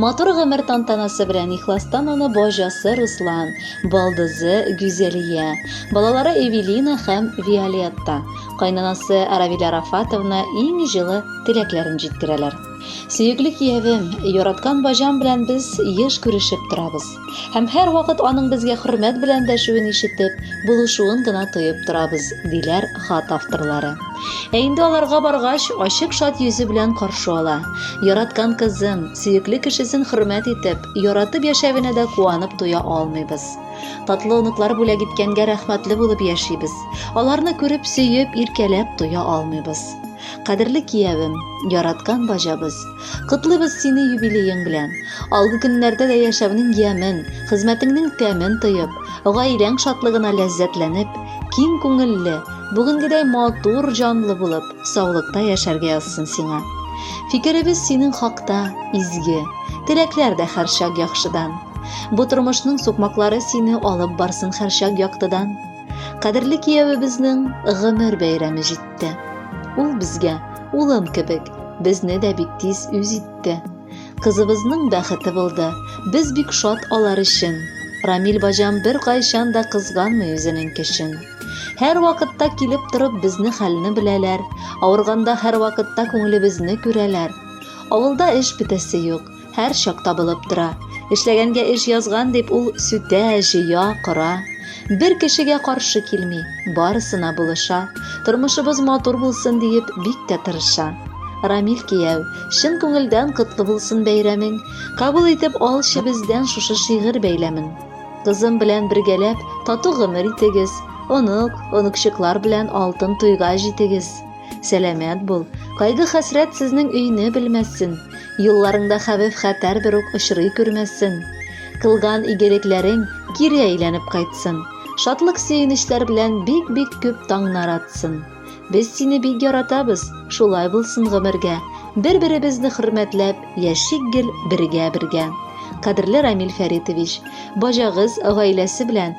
Матур гомер тантанасы белән ихластан аны бажасы Руслан, балдызы Гүзәлия, балалары Эвелина һәм Виолетта, кайнанасы Равилә Рафатовна иң җылы теләкләрен җиткерәләр. Сөекле киявем, яраткан бажам белән без еш күрешеп торабыз. Һәм һәрвакыт аның безгә хөрмәт белән дәшүен ишетеп, булышуын гына тоеп торабыз, диләр хат авторлары. Ә инде аларга баргач, ачык шат йөзе белән каршы ала. Яраткан кызын, сөекле кешесен хөрмәт итеп, яратып яшәвенә дә куанып туя алмыйбыз. Татлы оныклар бүләк иткәнгә рәхмәтле булып яшибез. Аларны күреп, сөеп, иркәләп туя алмыйбыз. Кадерле киявем, яраткан баҗабыз, Котлыйбыз сине юбилеең белән! Алгы көннәрдә дә яшәүнең ямен, хезмәтеңнең тәмен тоеп, гаиләң шатлыгына ләззәтләнеп, киң күңелле, бүгенгедәй матур җанлы булып, саулыкта яшәргә язсын сиңа. Фикеребез синең хакта изге, теләкләр дә һәрчак яхшыдан. Бу тормышның сукмаклары сине алып барсын һәрчак яктыдан. Кадерле киявебезнең гомер бәйрәме җитте. Ул безгә улым кебек, безне дә бик тиз үз итте. Кызыбызның бәхете булды. Без бик шат алар өчен. Рамил баҗам бер кайчан да кызганмый үзенең кешен. Һәр вакытта килеп торып безне хәлне беләләр. Авырганда һәр вакытта күңелебезне күрәләр. Авылда эш бетәсе юк. һәр чак табылып тора. Эшләгәнгә эш язган дип ул сүтә, җыя, кора. Бер кешегә каршы килми, барысына булыша. Тормышыбыз матур булсын диеп бик тә тырыша. Рамил кияү, чын күңелдән котлы булсын бәйрәмең. Кабул итеп алчы бездән шушы шигырь бәйләмен. Кызым белән бергәләп тату гомер итегез, онык, оныкчыклар белән алтын туйга җитегез. Сәламәт бул, кайгы-хәсрәт сезнең өйне белмәссен, юлларыңда хәвеф-хәтәр бер үк очрый күрмәссен. Кылган игелекләрең кире әйләнеп кайтсын. Шатлык сөенечләр белән бик-бик күп таңнар атсын. Без сине бик яратабыз, шулай булсын гомергә. Бер-беребезне хөрмәтләп, яшик гел бергә-бергә. Кадерле Рамил Фәритович, бажагыз гаиләсе белән